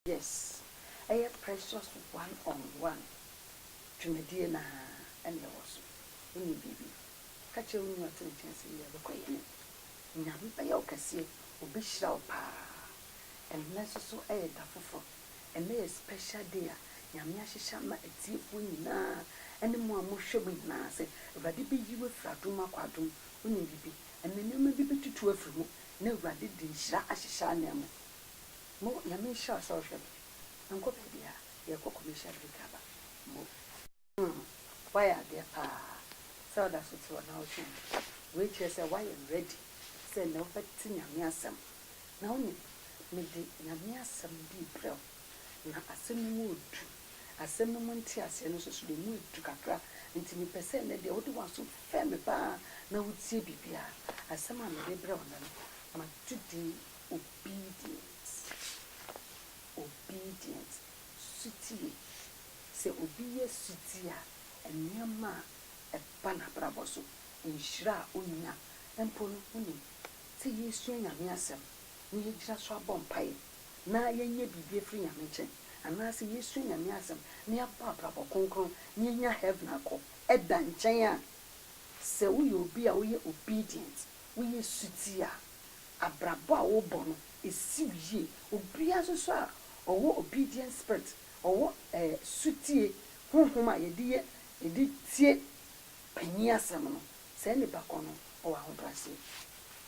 Yes ɛyɛ precious one on one dwumadie no ara na ɛwɔ so wonim biribi ka kyerɛ wo nua a ɔte ne nkyɛn sɛ yɛ bɛkɔ yɛ no Nyame bɛyɛ wo kɛseɛ obi hyira wo paa ɛnnɛ nso so ɛyɛ da foforɔ ɛnnɛ yɛ special day a Nyame ahyehyɛ ama atiefoɔ nyinaa ɛne mo a mo hwɛ mu nyinaa sɛ Awurade bɛyi wo afiri adom mu akɔ adom mu wonim biribi ɛnnɛ nneɛma bi bɛtutu afiri mu na Awurade de nhyira ahyehyɛ ananmu. Mo Nyame nhyira wo sɛ wohwɛ me. Menkɔ baabiaa yɛkɔ commercial break aba mo. Umm wayɛ adeɛ paa sɛ woda so te hɔ na wotwɛn no. Wei kyerɛ sɛ woayɛ ready sɛ nnɛ wobɛte Nyame asɛm. Na wonim mede Nyame asɛm bi rebrɛ wo na asɛm no mu redu. Asɛm no mu nteaseɛ no nso so deɛ mu redu kakra nti mepɛ sɛ nnɛ deɛ wode w'aso fɛm me paa na wotie biribiaa. Asɛm a mede rebrɛ wo nnɛ no magye din. Obedient, obedient, sotie. Sɛ obi yɛ sotie a, nneɛma a ɛba n'abrabɔ so, nhyira a onya mpo no, wonim, sɛ yɛresua Nyame Asɛm na yɛagyina so abɔ mpaeɛ na yɛanya biribi afiri Nyame nkyɛn, anaasɛ yɛresua Nyame Asɛm na yɛabɔ abrabɔ kronkron na yɛanya heaven akɔ, ɛda nkyɛn a, sɛ woyɛ obi a woyɛ obedient, Woyɛ suti a, abrabɔ a wobɔ no, esi wo yie. Obiara nso so a ɔwɔ obedient spirit, ɔwɔ ɛɛ sutie honhom a yɛde yɛ yɛde tie panyin asɛm no, saa nipa korɔ no ɔwɔ ahobrɛaseɛ.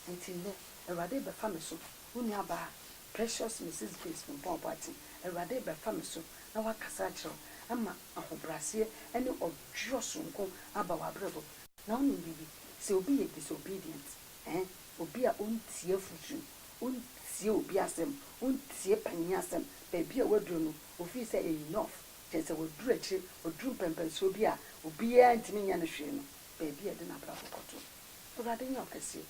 Nti nnɛ, Awurade rebɛfa me so, wo nuabaa Precious Mrs. Grace Frimpong Boateng, Awurade rebɛfa me so na wakasa akyerɛ wo ama ahobrɛaseɛ ne ɔdweɔ sononko aba w'abrabɔ mu. na wonim biribi, sɛ obi yɛ disobedient, eh, obi a ɔntie afotu, ɔntie obi asɛm, ɔntie panin asɛm, baabi a waduro no, ɔfii sɛ enough, kyerɛ sɛ waduru akyire, waduru mpɛnpɛnsoɔ bi a obiara ntumi nyɛ no hwee no, baabi a ɛde n'abrabɔ kɔto. Awurade nyɛ ɔkɛseɛ,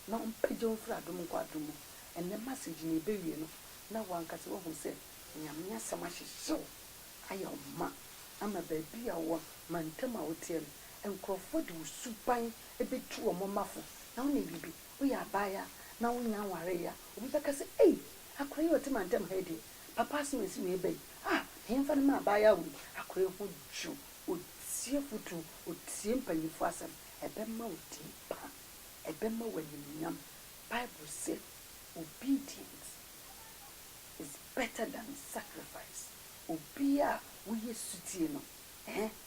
na ɔmpagya wo mfiri adom nkɔ adom mu. Ɛnnɛ message no ɛbɛwie no, na w'ankasa woahunu sɛ Nyame asɛm ahyehyɛ wo, ayɛ wo ma, ama baabi a wowɔ, mantam a woteɛ no, Nkurɔfoɔ de wo suban bɛtu wɔn mma fo. Na wonim biribi? Woyɛ abaayewa na wonnya nwareeɛ a, obi bɛka sɛ, Ei! Akwadaa yi a ɔte mantam ha yi deɛ, papa asɛm a ɛsi wei ba yi, ah! Na yɛmfa no mma abaayewa wei. Akwadaa yi ho dwo, ɔtie afotuo, ɔtie mpanimfoɔ asɛm. Ɛbɛma wo din pa. Ɛbɛma wo animuonyam. Bible se, Obedience is better than sacrifice. Obiara a woyɛ sotie no, eh,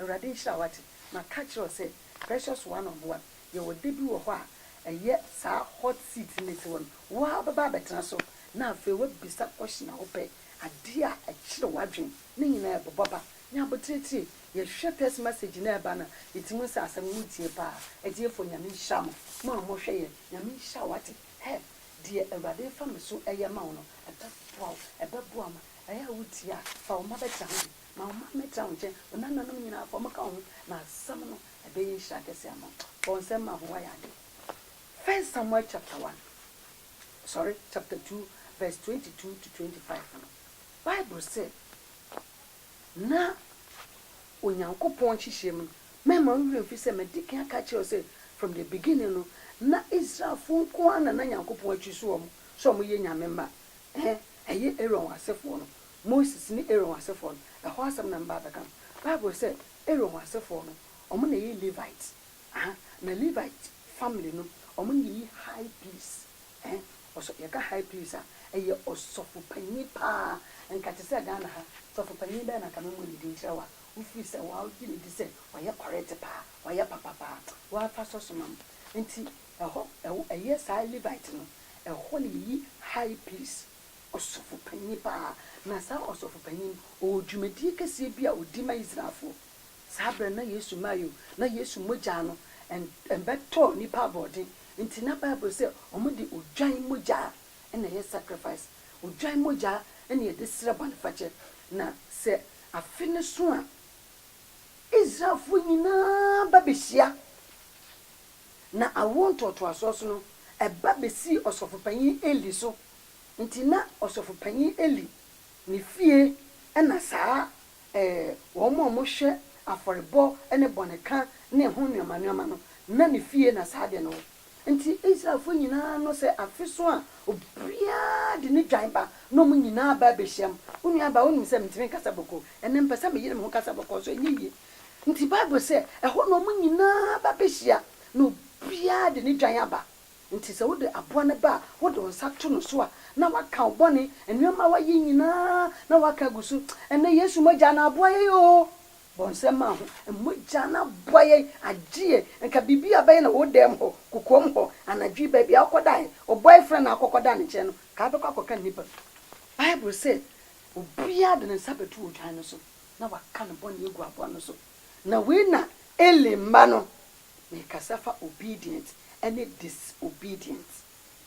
Awurade nhyira wo wate. Maka kyerɛ wo sɛ precious one on one yɛwɔ da bi wɔ hɔ a ɛyɛ saa hot seat no si hɔ no wo ara wobɛba abɛtena so na afei woabisa question a wopɛ adeɛ a ɛkyere w'adwene ne nyinaa ɛbobɔ ba nyɛ abotiretire yɛhwɛ text message no a ɛba no a yɛtim hu sɛ asɛm no wotie paa atiefoɔ nyame nhyira mo mo a mo hwɛ yɛn nyame nhyira wo wate hɛ deɛ awurade refa me so ɛyɛ ma wo no ɛbɛboa wo ɛbɛboa ma ɛyɛ a wotie a fa wo mma bɛtra ho bi. Ma wo mma mmɛtena wo nkyɛn, wo nananom nyinaa, fa wɔka wo ho, na asɛm no, ɛbɛyɛ nhyira kɛse ama wo. Fa wo nsam ma ho, woayɛ ade. First Samuel chapter one, sorry, chapter two, verse twenty two to twenty five no, Bible se, Na Onyankopɔn nhyehyɛɛ mu no, mɛmma wo werɛ mfi sɛ madi kan aka akyerɛ wo sɛ, from the beginning no, na Israelfoɔ nko ara na na Nyankopɔn akyi so wɔn sɛ wɔyɛ nyame mma, eh, ɛyɛ Aaron wɔn asefoɔ no, Moses ne Aaron asefoɔ no, ɛhɔ asɛm na meba abɛka no. Bible se Aaron asefoɔ no, wɔn na ɛyi Levite, aha, na Levite family no, wɔn na ɛyi high priest, eh, ɔsɔ, yɛka high priest a, ɛyɛ ɔsɔfopanyin paa, nka te sɛ Ghana ha, sɔfopanyin bɛn na nka memmɔ ne din nkyerɛ wo a, wofiri sɛ wagye ne di sɛ ɔyɛ correct paa, wayɛ papa paa, wafa sɔ so ma me. Nti, ɛhɔ, ɛwɔ, ɛyɛ saa Levite no, ɛhɔ na yɛyi high priest. Ɔsɔfopanyin paa, na saa ɔsɔfopanyin no, ɔwɔ dwumadie kɛseɛ bi a ɔdi ma Israelfoɔ. Saa berɛ no na Yesu mmaa yi o, na Yesu mogya no mmɛtɔɔ nnipa aboɔden, nti na Bible sɛ wɔde odwan mogya na ɛyɛ sacrifice. Odwan mogya na yɛde srɛ bɔnefakyɛ. Na sɛ afe no so a, Israelfoɔ nyinaa ba bɛhyia. na awoɔ ntoatoasoɔ so no, ɛba bɛsii Ɔsɔfopanin Eli so. Enti na Ɔsɔfopanin Eli ne fie na saa eh, wɔn a wɔhwɛ afɔrebɔ ne bɔneka ne ɛho nneɛma nneɛma no, na ne fie na saa adeɛ no wɔ. Enti Israelfoɔ nyinaa no, sɛ afe so a, obiara de ne dwan ba, na wɔn nyinaa ba bɛhyiam. Wo nuabaa, wonim sɛ mentumi nkasa bɔkɔɔ. Ɛnnɛ, mepɛ sɛ meyere me ho kasa bɔkɔɔ, so ɛnyɛ yie? Enti Bible sɛ, Ɛhɔ na wɔn nyinaa ba behyia, na obiara de ne dwan aba. Enti sɛ wode aboa no ba a, wode wo nsa to no so a, na woaka wo bɔne, nneɛma a woayɛ nyinaa na woaka agu so. Ɛnnɛ, Yesu mogya na aboa yɛn oo! Bɔ nsɛm ma ho, Mogya no aboa yɛn, agye yɛn. Anka biribi a wobɛyɛ na wo dan mu hɔ, kokoam hɔ, anadwo yi, baabi a wokɔdae, ɔbɔe frɛ na akɔkɔda ne nkyɛn no, ka wobɛkɔ akɔka nnipa. Bible sɛ, Obiara de ne nsa bɛto odwan no so. na waka ne bɔne agu aboa no so. Na wei na Eli mma no, mekasa fa obedient ne disobedient,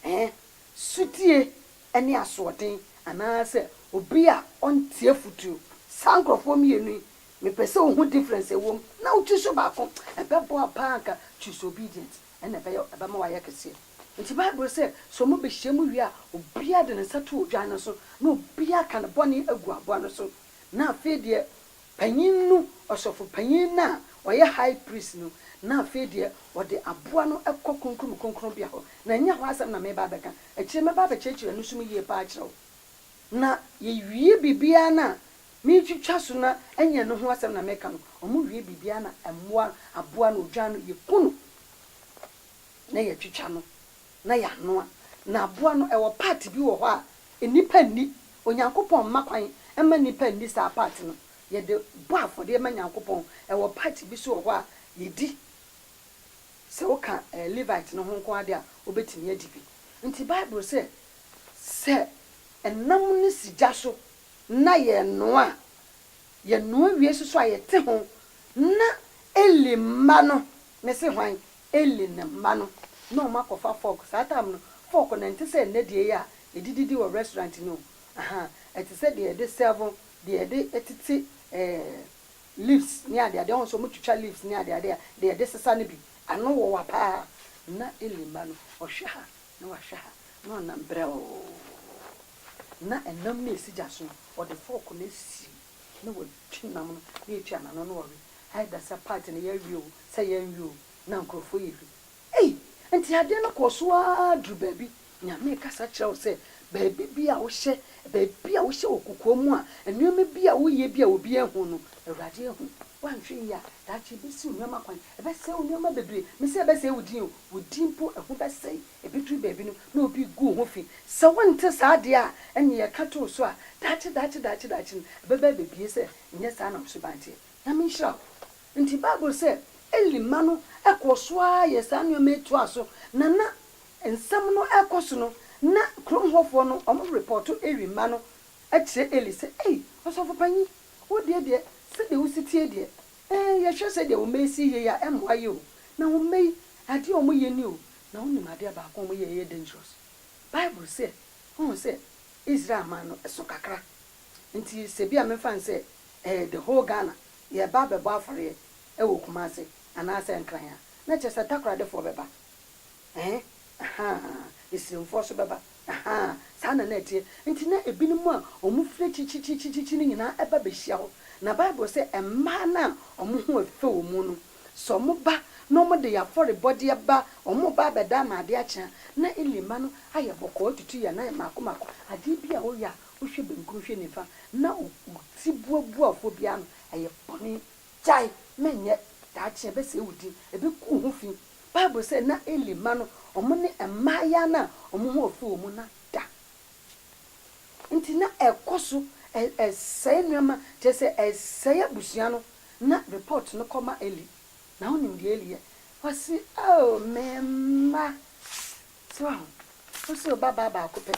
eh, sotie ne asoɔden, anaasɛ obi a ɔnte afutuo. Saa nkorɔfoɔ mmienu yi, mepɛ sɛ wohu difference a ɛwɔ mu na wo choose baako. Ɛbɛboa paa anka choose obedient, ɛna ɛbɛyɛ, ɛbɛma wayɛ kɛseɛ. Nti Bible sɛ, sɛ wɔbɛhyiam wie a, obiara de ne nsa to odwan no so, na obiara ka ne bɔne agu aboa no so. na afei deɛ panin no, ɔsɔfopanin no a ɔyɛ high priest no, na afei deɛ ɔde aboa no kɔ Kronkron mu Kronkronbea hɔ, na ɛnyɛ hɔ asɛm na mereba abɛka, akyire mɛba abɛkyerɛkyerɛ ɛno nso mu yie pa ara akyerɛ wo. Na yɛwie biribiara no a, meretwitwa so na ɛnyɛ ɛno ho asɛm na mereka no, wɔwie biribiara na mmoa, aboa no, odwan no, yɛku no na yɛtwitwa no. na yɛanoa. Na aboa no, ɛwɔ part bi wɔ hɔ a nnipa nni. Onyankopɔn mma kwan mma nnipa nni saa part no. Yɛde bɔ afɔdeɛ ma Nyankopɔn. Ɛwɔ part bi nso wɔ hɔ a yɛdi. Sɛ woka Levite no ho nko ara deɛ a, wobɛtumi adi bi. Nti Bible sɛ, sɛ ɛnam no si gya so na yɛnoa a, yɛnoa wie nso so a yɛte ho na Eli mma no Me se hwan? Eli ne mma no na ɔmo akɔfa fork, saa time no fork no ɛnte sɛ nnɛ deɛ yi a yɛde didi wɔ restaurant no o, ahaa, ɛte sɛ deɛ yɛde serve, deɛ yɛde tete eh, leaves ne ade ade, ɔho sɛ ɔmo twitwa leaves ne ade ade a, deɛ yɛde sesa no bi, ano wowa paa, na Eli mma no ɔhwɛ ha na wahwɛ ha na ɔnam brɛoo, na ɛnam no esi gya so no ɔde fork no asisi mu. Na wɔtwi nam no na yɛtwa n'ano na wɔwe. Either sɛ part no yɛawe oo, sɛ yɛanwe oo, na nkurɔfoɔ yɛ bi. Ei! Nti adeɛ no kɔɔ so ara duru baabi, Nyame rekasa kyerɛ wo sɛ baabi bi a wohyɛ, baabi a wohyɛ wɔ kokoa mu a, nneɛma bi a woyɛ bi a obiara nhu no, Awurade ahu. Woanhwɛ yie a, daakye ɛbɛsiw nneɛma kwan, ɛbɛsɛe wo nneɛma bebree. Mese ɛbɛsɛe wo din oo, Wo din mpo ho bɛsɛe. Ebeduru baabi no, na obi regu wo ho fi. Sɛ wonte saa de a, ɛnneɛ yɛka to wo so a, daakye, daakye, daakye, daakye no, ɛbɛba abebue sɛ ɛnyɛ saa na wo suban teɛ. Nyame nhyira wo. Enti Bible sɛ, Eli mma no kɔɔ so ara yɛɛ saa nneɛma yi toaa so, na na nsɛm no rekɔ so no, na kurom hɔfoɔ no wɔrepɔɔto Eli mma no akyerɛ Eli sɛ, Ei, ɔsɔfopanyin, wo deɛ deɛ, sɛdeɛ wosi teɛ deɛ, Ee, yɛhwɛ sɛdeɛ wo mma yi si yie a, ɛmmoa yɛ o. Na wo mma yi, adeɛ a wɔyɛ ni o, na wonim adeɛ baako a wɔyɛ a ɛyɛ dangerous? Bible sɛ, wohu sɛ, Israel man no, ɛso kakra. Nti, sɛ bi a memfa no sɛ ɛɛ the whole Ghana, yɛreba abɛbɔ afɔreɛ wɔ Kumase anaasɛ Nkran a, na kyerɛ sɛ Takoradefoɔ bɛba. Ɛɛ, ahaa, Asirimfoɔ nso bɛba. Ahaa, saa na na ɛteɛ. Enti na ebinom a wɔfiri akyirikyirikyirikyiri no nyinaa ba behyia hɔ. Na Bible se mmaa no a wɔn ho yɛ fɛ wɔ mu no, sɛ wɔba na wɔde afɔrebɔdeɛ ba, wɔba abɛda ama ade akye a, na Eli mma no ayɛ bɔkɔɔ atutu yɛn nan mmaako mmaako. Adeɛ bi a woyɛ a wohwɛ benkum hwɛ nifa na wo ti buabuafoɔ bi ano, ɛyɛ bɔne. Gyae, menyɛ. Daakye ɛbɛsɛe wo din. Ɛbɛgu wo ho fi. Bible sɛ na Eli mma no wɔn ne mmayeaa no a wɔn ho afu wɔn no ada. Nti na ɛkɔ so sɛe nneɛma, kyerɛ sɛ ɛsɛe abusua no, na report no kɔma Eli. Na wonim deɛ Eli yɛ? Ɔse oh me mma. So wahu? Wose wo babaa baako pɛ,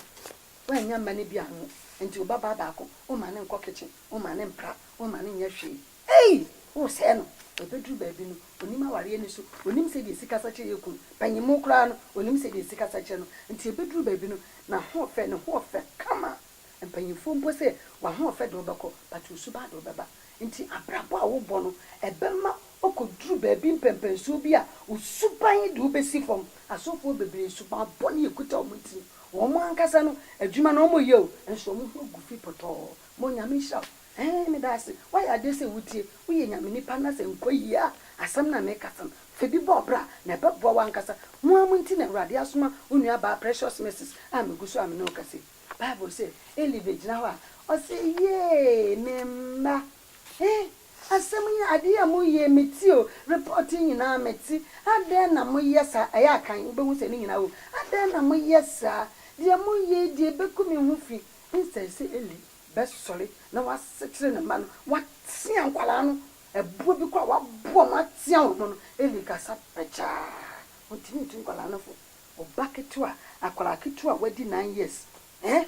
woannya mma no bi anwo, nti wo babaa baako womma no nkɔ kitchen, womma no mpra, womma no nyɛ hwee. Ei! Woresɛe no. Ɛbɛduru baabi no, ɔnim awareɛ no su. Ɔnim sɛdeɛ sikasa kyerɛ yɛ kunu. Panyinmu koraa no, ɔnim sɛdeɛ sikasa kyerɛ no. Nti ɛbɛduru baabi no, n'ahoɔfɛ, ne hoɔfɛ kama. Mpanyinfoɔ mpo sɛ, W'ahoɔfɛ de wobɛkɔ, but wo suban de wobɛba. Nti abrabɔ a wobɔ no, ɛbɛma wokɔduru baabi mpɛnpɛnsoɔ bi a, wo suban de wobɛsi fam. Asɔfoɔ bebree, suban bɔne ɛkuta wɔn tirim. Wɔn ankasa no, adwuma no wɔyɛ o, nso wɔn ho agu fi pɔtɔɔ. Ma Onyame nhyira wo. Eeh meda ase wayɛ adeɛ sɛ wotie woyɛ nyame nipa na sɛ nkɔ yie a asɛm no a meka sɛm fabi bɔ bra na ɛbɛboa wo ankasa mo ara mo nti na awurade asoma wo nua baa precious mercies a megu so a me ne wo kasa yi bible sɛ Eli bɛgyina hɔ a ɔse yee me mma eeh asɛm yi adeɛ a mo yie me tie o report yi nyinaa me te adɛn na mo yɛ saa ɛyɛ akan wo bɛhu sɛ ne nyinaa wom adɛn na mo yɛ saa deɛ mo yɛ yi deɛ ɛbɛku me ho fi instead sɛ Eli bɛsɔre na wɔasekyere ne mma no, wɔatea nkwadaa no, ɛboɔ bi koraa a wɔaboa wɔn atea wɔn no, Eli kasa pɛkyɛɛ, ɔntumi ntu nkwadaa no fo. Ɔba ketewa, akwadaa ketewa a wadi nine years, eh,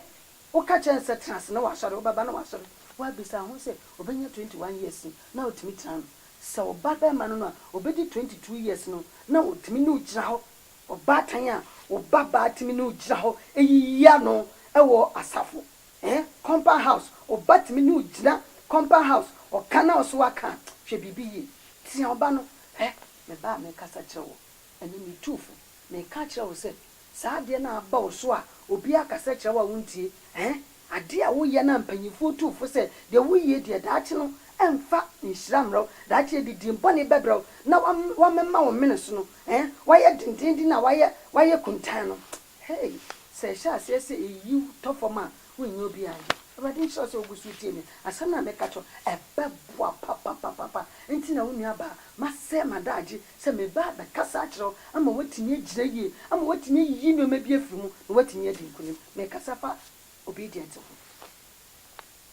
woka kyerɛ no sɛ tena ase na wasɔre, wobɛba na wasɔre, woabisa ho sɛ ɔbɛnya twenty one years no na watumi tena ano, sɛ ɔba barima no no a, ɔbɛdi twenty two years no na ɔtumi ne wo gyina hɔ, ɔbaatan a, wo babaa tumi ne wo gyina hɔ, ɛyiyi ano wɔ asafo eh compound house ɔba tumi ne wo gyina compound house ɔka na ɔso aka a hwɛ biribi yie tia ɔba no hwɛ me ba a mekasa kyerɛ wo ɛnɛ metuu fo meka akyerɛ wo sɛ saa adeɛ no a aba wo so a obiara kasa kyerɛ wo a wontie eh adeɛ a woyɛ no a mpanyinfoɔ tuu fo sɛ deɛ woyie deɛ daakye no ɛmfa nhyira mmerɛ wo daakye adidie bɔne bɛbrɛ wo na wamema wo mene so no eh wayɛ dendeenden a wayɛ wayɛ kuntann no Hey, sɛ ɛhyɛ aseɛ sɛ ɛyi wo tɔ fam a, wonyɛ obiara yɛ. Awurade nhyira wo sɛ wogu so tie me. Asɛm no a meka kyerɛ wo, ɛbɛboa papapapapa. Nti na wo nua baa, masɛe m'adagye sɛ mebaa bɛkasa akyerɛ wo ama woatumi agyina yie, ama woatumi ayiyi nneɛma bi afiri mu na woatumi adi nkonim. Mekasa fa obedience ho.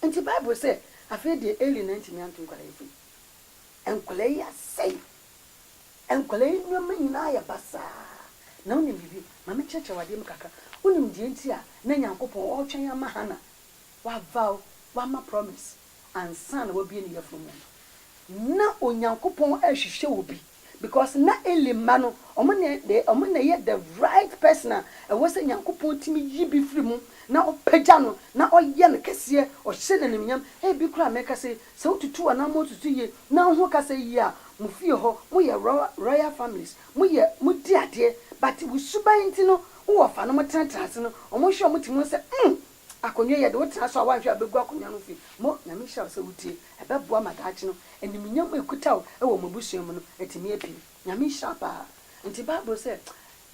Nti Bible sɛ, Afei deɛ Eli na antumi anto nkwadaa yi fam. Nkwadaa yi asɛe. Nkwadaa yi nneɛma nyinaa ayɛ basaa. Na wonim biribi? Ma menkyerɛkyerɛ wo adeɛ mu kakra. Wonim deɛ nti a na Nyankopɔn ɔretwɛn ama Hana wavow, wama promise, ansa na wabue ne yafunu mu no? Na Onyankopɔn rehwehwɛ obi. Because na Eli mma no ɔmo na de ɔmo na ɛyɛ the right person a ɛwɔ sɛ Nyankopɔn tumi yi bi firi mu na ɔpagya no na ɔyɛ no kɛseɛ, ɔhyɛ no animuonyam. Ebi koraa a mekasa yi, sɛ wotutu anaa mo nsusu yie na wohu kasa yi yie a, mo fie hɔ moyɛ royal families, moyɛ modi adeɛ but wo suban nti no wo wɔfa no mo tenatena ase no ɔmo hwɛ ɔmo ti mu sɛ mm Akonwa yi, yɛde wo tena so a woanhwɛ a bɛgu akonwa no fi mo. Nyame nhyira wo sɛ wotie. Ɛbɛboa ma daakye no, animuonyam a ɛkuta wo wɔ mo abusua mu no, atumi apue. Nyame nhyira wo paa. Nti Bible sɛ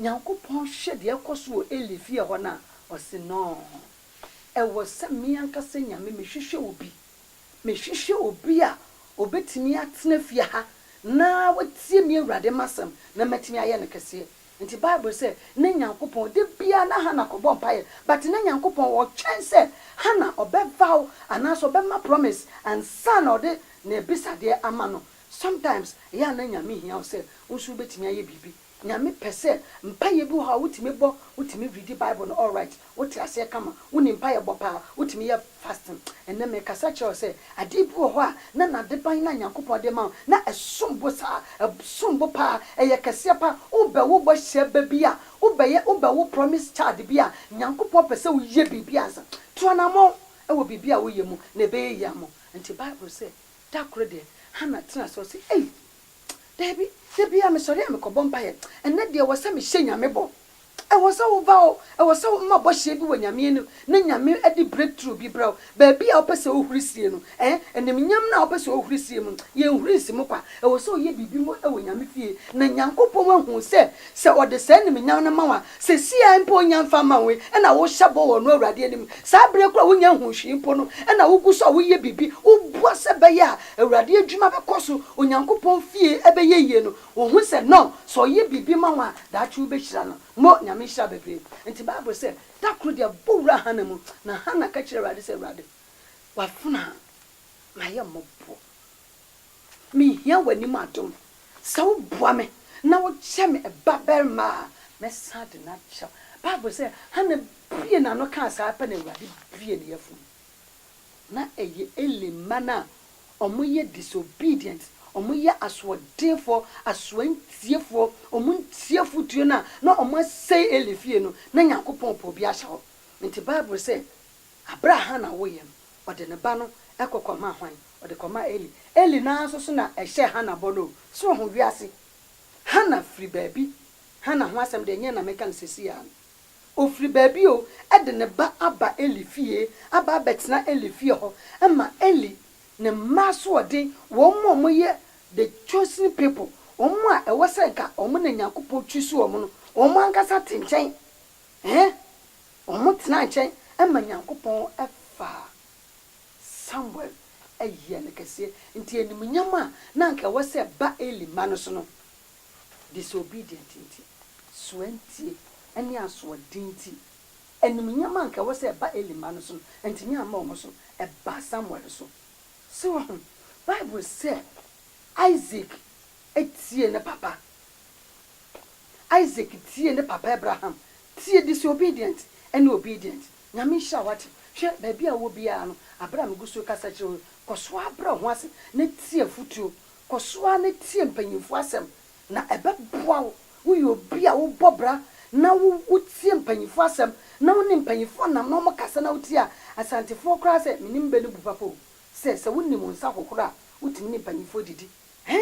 Nyankopɔn hwɛ deɛ ɛkɔ so wɔ Eli fie hɔ no a, ɔse noo. Ɛwɔ sɛ me ankasa Nyame mehwehwɛ obi. Mehwehwɛ obi a ɔbɛtumi atena fie ha na watie me Awurade m'asɛm na matumi ayɛ no kɛseɛ. Nti bible sɛ ne Nyankopɔn da biaa na Hannah kɔbɔ mpaeɛ but ne Nyankopɔn ɔtwɛn sɛ Hannah ɔbɛvaw anaasɛ ɔbɛma promise ansa na ɔde n'abisadeɛ ama no sometimes ɛyɛ a na Nyame hia wo sɛ wo nso wobɛtumi ayɛ biribi Nyame pɛ sɛ mpaeɛ bi wɔ hɔ a wotumi bɔ wotumi readi bible no alright Wote aseɛ kama, wone mpaeɛ bɔ paa, wotumi yɛ fasting. Ɛnnɛ merekasa kyerɛ wo sɛ adeɛ bi wɔ hɔ a na nadeban no a Nyankopɔn de ma wo na ɛsom bo saa, ɛsom bo paa, ɛyɛ kɛseɛ paa, wobɛ wo bɔhyɛ ba bi a, wobɛyɛ, wobɛ wo promise child bi a, Nyankopɔn pɛ sɛ woyɛ biribi ansa. Tu anamɔn wɔ biribi a woyɛ mu na ɛbɛyɛ yie ama wo. Nti Bible sɛ da koro deɛ Hannah tena ase ɔse ei, daabi, da biara mesɔre a mekɔbɔ mpaeɛ, ɛnnɛ deɛ ɛwɔ sɛ mehyɛ Nyame bɔ, Ɛwɔ sɛ wo ba o, ɛwɔ sɛ wo ma bɔhyeɛ bi wɔ Nyame anim, na Nyame de breakthrough bi brɛ wo. Baabi a wopɛ sɛ wohuri sie no, eh, animnyam no a wopɛ sɛ wohuri sie mu no, yɛnhuri nsi mu kwa. Ɛwɔ sɛ woyɛ biribi mu wɔ Nyame fie, na Nyankopɔn ahu sɛ, sɛ ɔde saa animnyam no ma wo a, seesei ara mpo ɔnya mfa mma wo yi, ɛna wohyɛ bɔ wɔ ɔno Awurade anim. Saa berɛ koro a wonnya nhuu hwee mpo no, ɛna wogu so a woyɛ biribi, woboa sɛ ɛbɛyɛ a Awurade adwuma bɛkɔ so, Onyankopɔn fie bɛyɛ yie no, Wo hu sɛ no sɛ ɔyɛ biribi ma wo a daakye wo bɛ hyira no mo Nyame nhyira bebree nti bible sɛ da koro deɛ bɔ wura Hana mu na Hana ka kyerɛ awurade sɛ awurade wafena ma yɛ mmɔbɔ me hia w'anim adom sɛ wo boa me na wo kyɛ me ba barima a mɛ san de no akyɛ wo bible sɛ Hana bue n'ano kaa saa pɛ na awurade bue ne yafunu. Na ɛyɛ Eli mma no a wɔyɛ disobedient, wɔyɛ asoɔdenfoɔ, asoɔntiefoɔ, wɔntie afotuo no a na wɔasɛe Eli fie no, na Nyankopɔn repɛ obi ahyɛ hɔ. Nti Bible sɛ, berɛ a Hana woeɛ no, ɔde ne ba no kɔ kɔmaa hwan? Ɔde kɔmaa Eli. Eli no ara nso so na ɛhyɛɛ Hana bɔ no o. So woahu wiase? Hana firi baabi. Hana ho asɛm deɛ nyɛ na meka no seesei ara no. Ɔfiri baabi o, de ne ba aba Eli fie, aba abɛtena Eli fie hɔ, ma Eli, ne mma asoɔden, wɔn a wɔyɛ the chosen people, wɔn a ɛwɔ sɛ nka wɔn na Nyankopɔn choose wɔn no, wɔn ankasa te nkyɛn. Ɛɛ, wɔtena nkyɛn ma Nyankopɔn fa Samuel yɛ no kɛseɛ. Nti animuonyam a na anka ɛwɔ sɛ ɛba Eli mma no so no, disobedient nti, soantie ne asoɔden nti, animuonyam a anka ɛwɔ sɛ ɛba Eli mma no so no, antumi amma wɔn so, ɛbaa Samuel so. So woahu? Bible sɛ Isak tiee ne papa. Isak tiee ne papa Abraham. Tie, disobedient ne obedient. Nyame nhyira wo, wate? Hwɛ, baabi a wowɔ biara no, bere a megu so rekasa kyerɛ wo yi, kɔ so ara brɛ wo ho ase na tie afotuo Kɔ so ara na tie mpanyimfo asɛm, na ɛbɛboa wo. Woyɛ obi a wobɔ bra na wutie mpanyimfo asɛm, na wo ne mpanyimfo nam na wɔkasa na wutie a, Asantefo koraa sɛ, Minnim bɛ no bu papa o, sɛ, sɛ wunim wo nsa hohoro a, wutumi ne mpanyimfo didi. He,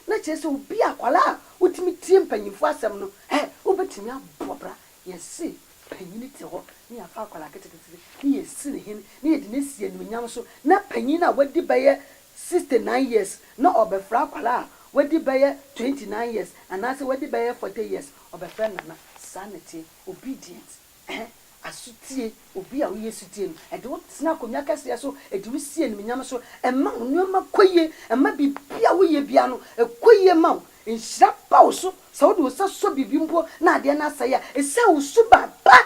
na kyerɛ sɛ obi a akwadaa a wotumi tie mpanyimfo asɛm no, he, wobetumi abɔ bra. Yɛse panyin te hɔ na yɛafa akwadaa ketekete na yɛasi no hene na yɛde no asi anuonyam so, na panyin a wadi bɛyɛ sixty nine years na ɔbɛfrɛ akwadaa a wadi bɛyɛ twenty nine years anaasɛ wadi bɛyɛ forty years ɔbɛfrɛ no nana saa na ɛteɛ obedient ɛhɛn asotie obi a woyɛ sotie no ɛde wo tena akonnwa kɛseɛ so ɛde wo si animuonyam so ɛma wo nneɛma kɔ yie ɛma biribi a woyɛ biara no ɛkɔ yie ma wo nhyira ba wo so sɛ wode wo nsa sɔ biribi mpo na adeɛ no asɛe a ɛsiane wo suban pa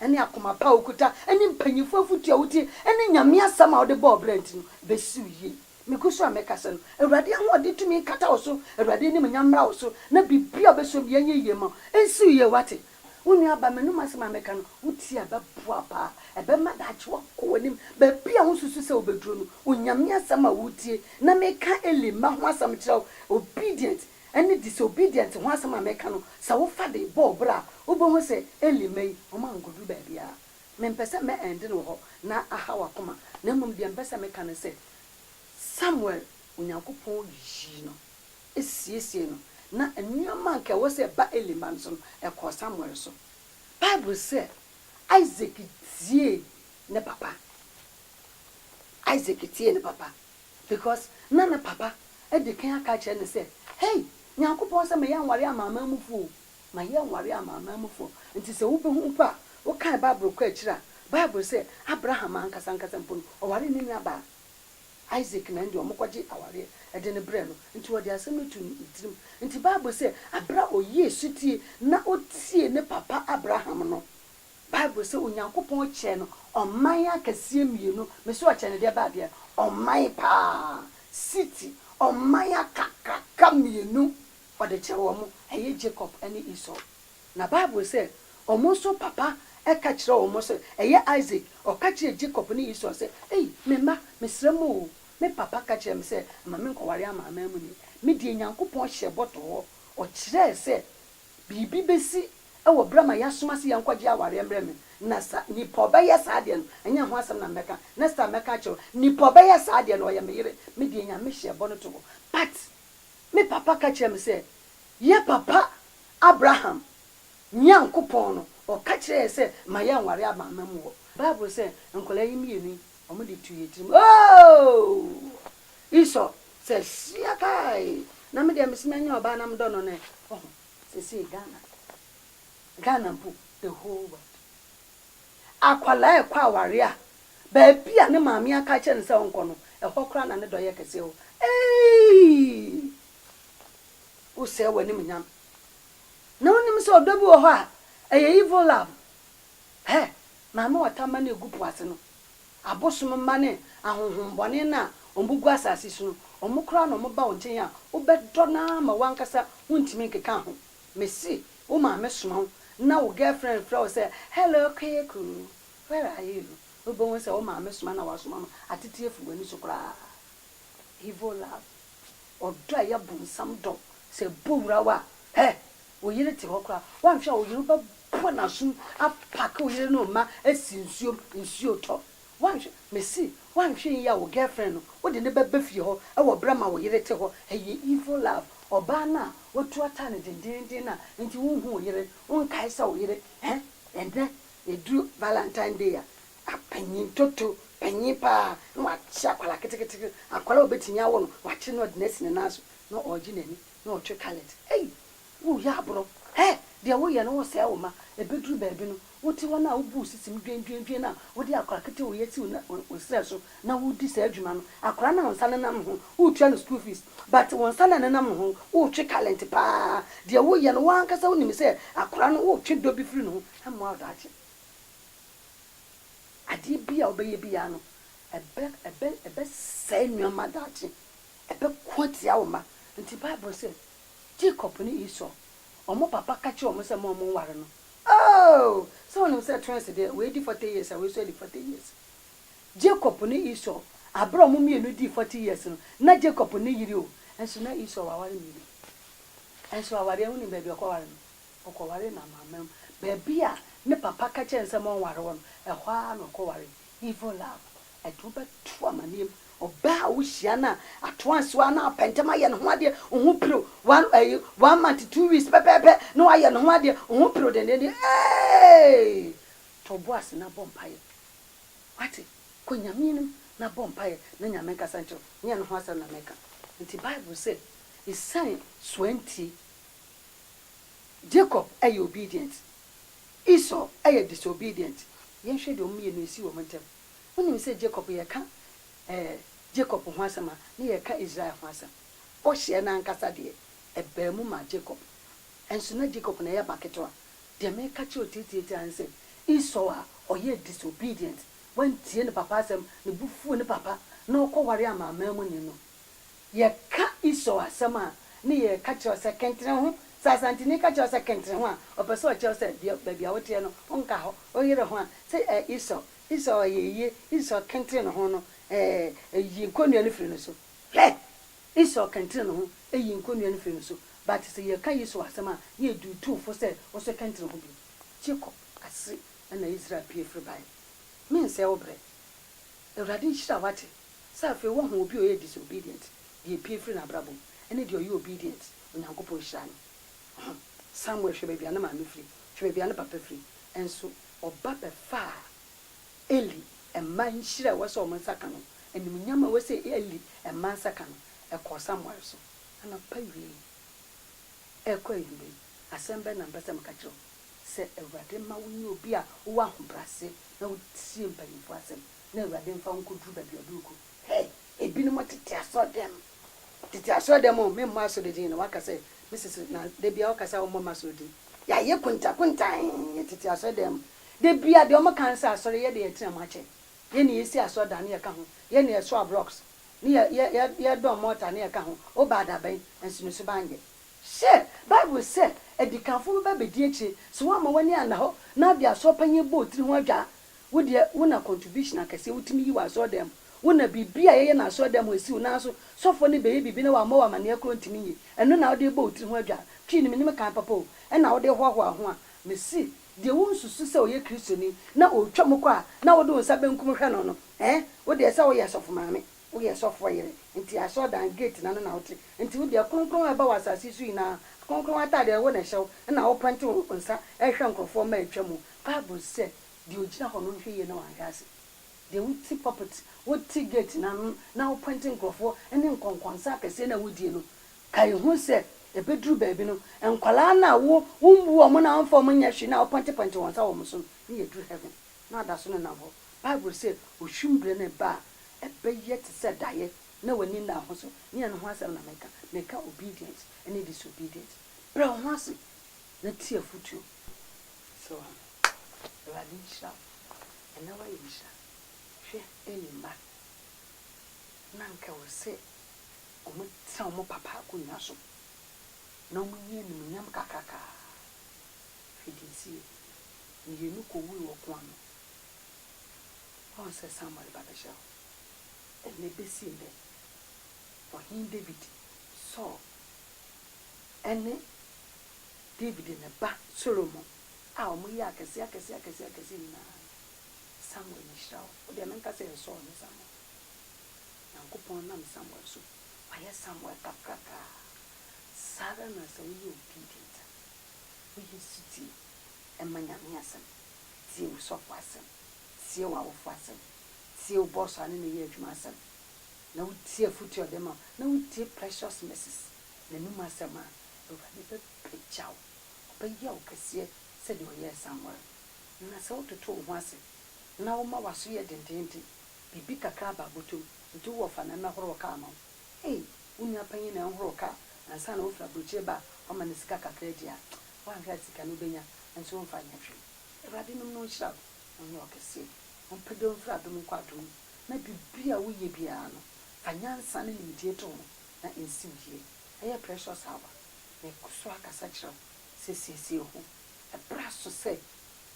ne akoma pa a wokuta ne mpanyimfo afotu a wotie ne Nyame asɛm a wode bɔ ɔbra nti no, ebesi wo yiye. Migu so a mekasa no, Awurade ahoɔden tumi nkata wo so, Awurade animuonyam mmra wo so, na biribiara a obeso biara nyɛ yiye mma wo. Ensi wo yiye, woate? Wo nua aba, m'anom asɛm a meka no, wutie a, ɛbɛboa wo paa. Ɛbɛma daakye woakɔ w'anim baabi a wunsusu sɛ wubeduru no. Onyame asɛm a wutie, na meka Eli mma ho asɛm kyerɛ wo, obedient, ɛne disobedient ho asɛm a meka no, sɛ wofa de bɔ wo bra a, wobɛhu sɛ Eli mma yi, wɔankɔduru baabiara. Mempɛ sɛ mɛ end no wɔ hɔ na aha w'akoma, na mmom deɛ mepɛ sɛ meka ne sɛ, Samuel, Onyankopɔn yii no, siesiee no, na nneɛma a anka ɛwɔ sɛ ɛba Eli mma no so no, ɛkɔɔ Samuel so. Bible sɛ, Isaac tiee ne papa. Isaac tiee ne papa. Because na ne papa adi kan aka akyerɛ no sɛ, Hey! Nyankopɔn sɛ mɛyɛ anware amanaman mufo o, mayɛ anware amanaman mufo. Nti sɛ wubehu mpo a, wokan Bible kɔ akyiri a, Bible sɛ Abraham ankasa ankasa mpo no, ɔwaree ne nuabaa Isaac na ɛnde wɔkɔgye awareɛ de no brɛɛ no. Nti wɔde asɛm no too ne tirim. Nti Bible sɛ, aberɛ a ɔyɛɛ sotie na ɔtiee ne papa Abraham no, Bible sɛ Onyankopɔn kyerɛ no ɔman akɛseɛ mmienu. Me se ɔkyerɛ no deɛ baa deɛ? Ɔman paa, city, ɔman akakraka mmienu ɔde kyerɛ wɔn, ɛyɛ Jacob ne Esau. Na Bible sɛ wɔn nso papa ka kyerɛ wɔn sɛ, ɛyɛ Isaac, ɔka kyerɛɛ Jacob ne Esau sɛ, ei, me mma, mesrɛ mo o, me papa ka kyerɛɛ me sɛ mma menkɔware amanamanmuni. Me deɛ Nyankopɔn hyɛɛ bɔ too hɔ, ɔkyerɛɛ sɛ Biribi besi wɔ bere a ma yɛasoma se yɛnkɔgye awareɛ mmerɛ me, na sa nipa ɔbɛyɛ saa deɛ no, ɛnyɛ ho asɛm na mɛka, next time mɛka akyerɛ wo, nipa ɔbɛyɛ saa deɛ no ɔyɛ me yere, me deɛ Nyame hyɛɛ bɔ no to hɔ, but me papa ka kyerɛɛ me sɛ, yɛ papa Abraham Nyankopɔn no ɔka kyerɛɛ yɛ sɛ ma yɛnware amanaman mu hɔ, Bible sɛ nkwadaa yi mmienu yi, Wɔn de tu yɛ tirim ooh. Esau sɛ hyia kai na me deɛ mese manya ɔbaa na medɔ no no ɛ woho sesei Ghana Ghana mpo the whole world akwadaa ɛkɔ awareɛ a baabi a ne maame aka akyerɛ no sɛ ɔnkɔ no ɛhɔ koraa na ne dɔ yɛ kɛseɛ o eii wosɛɛ w'anim nyam na wonim sɛ ɔdɔ bi wɔ hɔ a ɛyɛ evil love Hɛ! Maame ɔtamma no a egu po ase no, abosom mma ne ahonhombɔne no a wɔgu asase so no, wɔkora na wɔba wo nkyɛn a, wobɛdɔ no ara ma w'ankasa wuntumi nkeka ho. Mise wo maame soma wo na wo girlfriend mfrɛ wo sɛ, Hello Kweku, where are you? Wubehu sɛ wo maame soma na wasoma no atete afi w'ani so koraa. Evil love, ɔdɔ a ɛyɛ bonsam dɔ, sɛ ɛbɔ wura wo a, hɛ! wo yere te hɔ koraa woanhwɛ a wo yere wobɛbɔ n'asom apake wo yere ne wo mma asi nsuo mu nsuo tɔ woanhwɛ mesi woanhwɛ yie a wo girlfriend no wode no bɛba fie hɔ wɔ berɛ ma wo yere te hɔ ɛyɛ evil love ɔbaa no a watu ataa no dendeenden no a nti wonhu wo yere wonkae sɛ wo yere eh ɛnnɛ ɛduru valentine day a apanyin toto panyin paa na wakye akwadaa ketekete akwadaa a obɛtumi awo no wakye no ɔde no asi ne nan so na ɔregye n'ani na ɔtwe kalɛt. Ei! Woreyɛ aborɔ! Hɛ! Deɛ woyɛ no, woresɛe wo mma. Ɛbɛduru baabi no, wote hɔ no a, wobu wo sisim dwendwendwen no a, wode akwadaa ketewa a ɔyɛ siw no wo serɛ so na woredi saa dwuma no. Akwadaa no a wo nsa nenam ne ho no, woretua no school fees, but wo nsa no a ɛnenam ne ho no, woretwe kalɛt pa ara. Deɛ woyɛ no, wo ara ankasa wonim sɛ akwadaa no, woretwe dɔ bi firi ne ho. Ɛmmoa wo daakye. Adeɛ biara a wobɛyɛ biara no, ɛbɛ, ɛbɛ, ɛbɛsɛe nneɛma daakye. ɛbɛko atia wo mma. Enti Bible se, Jacob ne Esau, wɔn papa ka kyerɛɛ wɔn sɛ mma wɔnnware no. Oh! Sɛ wonim sɛ twins deɛ, wei di forty years a wei nso adi forty years. Jacob ne Esau, bere a wɔn mmienu dii forty years no, na Jacob nni yere o, nso na Esau waware mmienu. Nso awareɛ, wonim baabi a ɔkɔwaree no? Ɔkɔwaree n'amanaman mu. Baabi a ne papa ka kyerɛɛ no sɛ mma ɔnnware hɔ no, ɛhɔ ara na ɔkɔwaree. Evil love, aduru bɛto amanneɛm, ɔbaa a wohyia no a ato ansew a na wapɛ ntɛm ayɛ ne ho adeɛ, wo ho piriw, one ɛyi one month two weeks pɛpɛɛpɛ na wayɛ ne ho adeɛ, wo ho piriw dendenden, eeii! To wo bo ase na bɔ mpaeɛ, wate, kɔ Nyame anim na bɔ mpaeɛ na Nyame nkasa nkyerɛ wo, nyɛ ne ho asɛm na meka. Nti Bible sɛ, ɛsiane soa nti, Jacob ɛyɛ obedient. Esau yɛ disobedient. Yɛnhwɛ deɛ wɔn mmienu esii wɔn ntɛm. Wonim sɛ Jacob yɛka eh Jacob ho asɛm a na yɛka Israel ho asɛm. Bɔhyɛ no ankasa deɛ ɛbaa mu maa Jacob. Nso na Jacob na ɛyɛ ba ketewa. Deɛ meka kyerɛ wo tiatiati ara ne sɛ Esau a ɔyɛɛ disobedient, wantie ne papa asɛm, ne bo fuu ne papa na ɔkɔ ware amanamanmuni no, Yɛka Esau asɛm a, ne yɛka kyerɛ wo sɛ kentene ho. Sɛ Asanteni ka kyerɛ wo sɛ kentene ho a, ɔpɛ sɛ ɔkyerɛ wo sɛ deɛ, baabi a woteɛ no, wonka hɔ, woyere ho a, sɛ eh, Esau, Esau ayɛ ayie, Esau kentene ne ho no, eh, ɛyi nkɔnnua no firi ne so. Hwɛ! Esau kentene ne ho, ɛyi nkɔnnua no firi ne so. But sɛ yɛka Esau asɛm a, ne yɛ duutuu fo sɛ wo nso kentene ho bio. Jacob ase na Israel pue firi baeɛ. Mensɛe wo berɛ. Awurade nhyira wo, wate. Sɛ afei woahu obi a ɔyɛ disobedient, deɛ epue firi n'abrabɔ mu, ɛne deɛ ɔyɛ obedient, Onyankopɔn nhyira no. Ho. Samuel, hwɛ baabi a ne maame firi, hwɛ baabi a ne papa firi, nso ɔba bɛfaa Eli mma nhyira a ɛwɔ sɛ wɔn nsa ka no, animuonyam a ɛwɔ sɛ Eli mma nsa ka no, ɛkɔɔ Samuel so. Anɔpa awiei yi, ɛrekɔ anwummerɛ yi, asɛm bɛn na mepɛ sɛ meka kyerɛ wo? Sɛ Awurade ma wonyɛ obi a wowɔ ahobrɛase na wotie mpanyimfoɔ asɛm. Na Awurade mfa wo nkɔduru baabi a ɔde wo kɔ. Hey! Ebinom tete asɔrdan mu. Tete asɔrdan mu o, me mmɔ asɔre din no, waka sɛ, Mrs. Na da biara woka sɛ wommɔ m'asɔre din. Yɛayɛ kuntakuntan wɔ tete asɔrdan mu. Da biara deɛ wɔka ne sɛ asɔre, yɛn deɛ yɛtena mu akyɛ. Yɛn na yɛsi asɔrdan ne yɛka ho, yɛn na yɛsoa blocks, ne yɛ, yɛ, yɛ, yɛdɔn mortar ne yɛka ho. Wobaa da bɛn? Nanso ne suban nyɛ. Hyɛ! Bible sɛ, Adikanfo bɛba abɛdi akyire. So woamma w'ani anna hɔ na wode asɔrpanyin abɔ wo tiri ho adwaa? Wo deɛ wo na contribution akɛseɛ wotumi yi wɔ asɔre dan mu wo na biribi a yɛyɛ no asɔre dan mu ɛsi wo nan so sɔfoɔ no bɛyɛ biribi na wammɔ wo amaneɛ korɔ ntumi nyi ɛno na wode rebɔ wo tiri ho adwaa twii no menim kan papa o ɛna wode hoahoa ho a mese deɛ wo nsusu sɛ ɔyɛ kristoni na ɔretwa mu kɔ a na wode wo nsa bɛnkum hwɛ no no ɛɛ wo deɛ sɛ woyɛ sɔfo maame woyɛ sɔfoɔ yere nti asɔre dan gate no ano na wote nti wo deɛ kronkron a ɛba wɔ asase so nyinaa kronkron ataadeɛ wo na ɛhyɛ wo ɛna wopɛnte wo nsa ɛrehwɛ nkorɔfoɔ ma ɛretwa mu bible said Deɛ ɔgyina hɔ no nhwɛ yie na wanhwɛ ase. Deɛ wote pulpit, wote gate no ano na wopɔinte nkurɔfoɔ ne nkɔnkɔnsa akɛseɛ no a wodie no, kae hu sɛ ɛbɛduru baabi no, nkwadaa no a wombu wɔn na womfa wɔn nyɛ hwee no a wopɔintepɔinte wɔn nsa wɔ wɔn so no, ne yɛduru heaven na wɔada so nenam hɔ. Bible sɛ ɔhwim berɛ no reba a, ɛbɛyɛ te sɛ daeɛ na w'ani nna ho so. Ne ɛno ho asɛm na meka. Meka obedience ne disobedience. Brɛ wo ho ase na tie afotuo. So Awurade nhyira wo ɛnɛ wayɛ nhyira hwɛ Eli mma na anka ɛwɔ sɛ ɔmo tena ɔmo papa akonwa so na ɔmo nyi animuonyam kakraka hwɛ deɛ ɛsiiɛ mmienu kɔ wuui wɔ ɔko ano woahu sɛ Samuel ba bɛhyɛ hɔ ɛnɛ bɛsi nnɛ ɔhene David Saul ɛne Dawid ne ne ba Solomon a wɔyɛ akɛse akɛse akɛse akɛse nyinaa no, Samuel na ɔhyira wɔn. Wo deɛ menka sɛ ɛyɛ Saul ne Samuel. Nyankopɔn nam Samuel so wayɛ Samuel kakraka a. Saa ara na sɛ woyɛ obedient a, woyɛ sotie, ɛma Nyame asɛm, tie wo sɔfo asɛm, tie w'awofo asɛm, tie wo boss a ne no yɛ adwuma asɛm, na wotie afotu a ɔde ma wo, na wotie precious mrs. n'anom asɛm a, Awurade bɛpagya wo, ɔbɛyɛ wo kɛseɛ sɛdeɛ ɔyɛɛ Samuel no. Na sɛ wototo wo ho ase na woma w'aso yɛ dendeenden, biribi kakra ba abotom nti wowɔ fa na mmɛhoro wo kaa ma wo. Ei, wo nua panyin na ɛnhoro wo kaa ansa na wofiri aburokyire ba a wama no sika kakra adi a, woanhwɛ a sika no wobɛnya nso womfa nyɛ hwee. Awurade nom na ɔnhyira wo, ɔnyɛ wo kɛseɛ, ɔmpagya wo mfiri adom nkɔ adom mu, na biribi a woyɛ biara no, fa nyansa ne nimdeɛ to ho na nsiw yie. Ɛyɛ precious hour. Mekɔ so ara kasa kyerɛ wo sɛ siesie ho. Ɛberɛ aso sɛ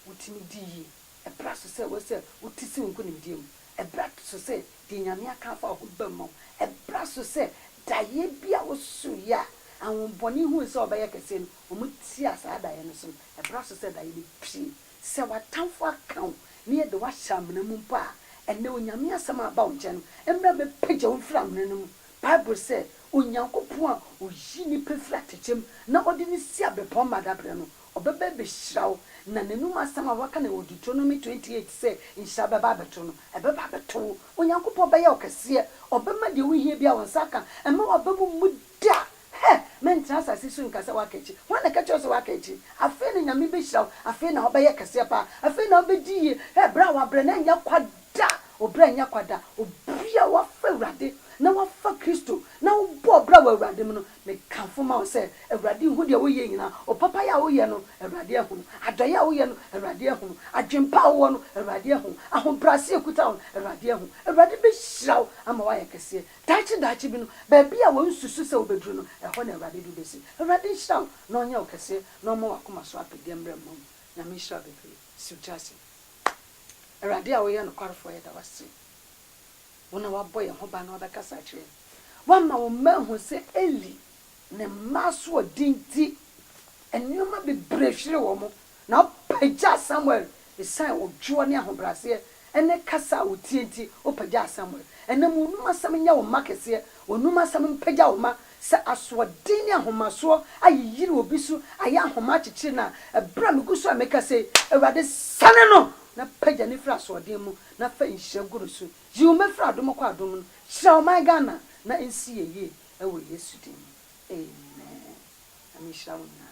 wotumi di yie. Ɛberɛ aso sɛ wo sɛ wote si wo nkonimdie mu. Ɛberɛ aso sɛ deɛ Nyame aka afa wo ho bam ma wo. Ɛberɛ aso sɛ daeɛ bi a wosoeɛ a ahonbɔne hui sɛ wobɛyɛ kɛseɛ no, wɔtiaa saa daeɛ no som. Ɛberɛ aso sɛ daeɛ no pue. Sɛ w'atamfo aka wo na yɛde wo ahyɛ amena mu mpo a, ɛnnɛ Onyame asɛm a aba wo nkyɛn no, mmra mmɛpagya wo mfiri amena no mu. Bible sɛ, Onyankopɔn a oyi nnipa firi atɛkyɛ mu na ɔde no si abɛpɔn ma da berɛ no, ɔbɛba abɛhyira wo. Na n'anom asɛm a wɔaka no wɔ Deuteronomy twenty eight sɛ nhyira bɛba abɛto no, ɛbɛba abɛto wo. Onyankopɔn bɛyɛ wo kɛseɛ, ɔbɛma deɛ wohia biara wo nsa aka, ɛmma w'aba mu mmu da. Hɛ! Mentena asase so nka sɛ woaka akyi. Hwan na ɛka kyerɛɛ wo sɛ woaka akyi? Afei na Nyame bɛhyira wo, afei na wobɛyɛ kɛseɛ paa, afei na wobɛdi yie. Hɛ! Berɛ a wabrɛ no ɛnyɛ kwa Da a ɔbra nyɛ kwa da. Obia wafa Awurade na wafa Kristo na wobɔ ɔbra wɔ Awurade mu no, mekamfo ma wo sɛ Awurade nhu deɛ woyɛ nyinaa. Opapayɛ a woyɛ no, Awurade ahunu. Adɔyɛ a woyɛ no, Awurade ahunu. Adwenpa a wowɔ no, Awurade ahu. Ahobraseɛ a ɛkuta wo no, Awurade ahu. Awurade bɛhyira wo ama woayɛ kɛseɛ. Daakye daakye bi no, baabi a wonsusu sɛ wobɛduru no, ɛhɔ na Awurade de wo bɛsi. Awurade nhyira wo na ɔnyɛ wo kɛseɛ na ɔmma w'akoma so apɛdeɛ mmra mma wo mu. Nyame nhyira wo bebree. Siw tiaseɛ. Awurade a woyɛ nokwarefoɔ, yɛda wo ase. Wo na woabɔ yɛn ho ban na woabɛkasa akyerɛ yɛn. Woama wo mma ahunu sɛ Eli ne mma asoɔden nti, nneɛma bebree hweree wɔn, na wopagyaa Samuel esiane odwoɔ ne ahobrɛaseɛ ne kasa a ɔtie nti, wopagyaa Samuel. Ɛnnɛ ma wɔnum asɛm nyɛ wo mma kɛseɛ, wɔnum asɛm mpagya wo mma Sɛ asoɔden ne ahomasoɔ ayeyiri obi so ayɛ ahoma akyekyere no a, berɛ a megu so a mekasa yi, Awurade, sane no na pagya no firi asoɔden mu na fa nhyira gu no so. Yi wo mma firi adom kɔ adom mu. Hyira ɔman Ghana na ɛnsi yɛn yie wɔ Yesu din mu, amen. Nyame nhyira wo nyinaa.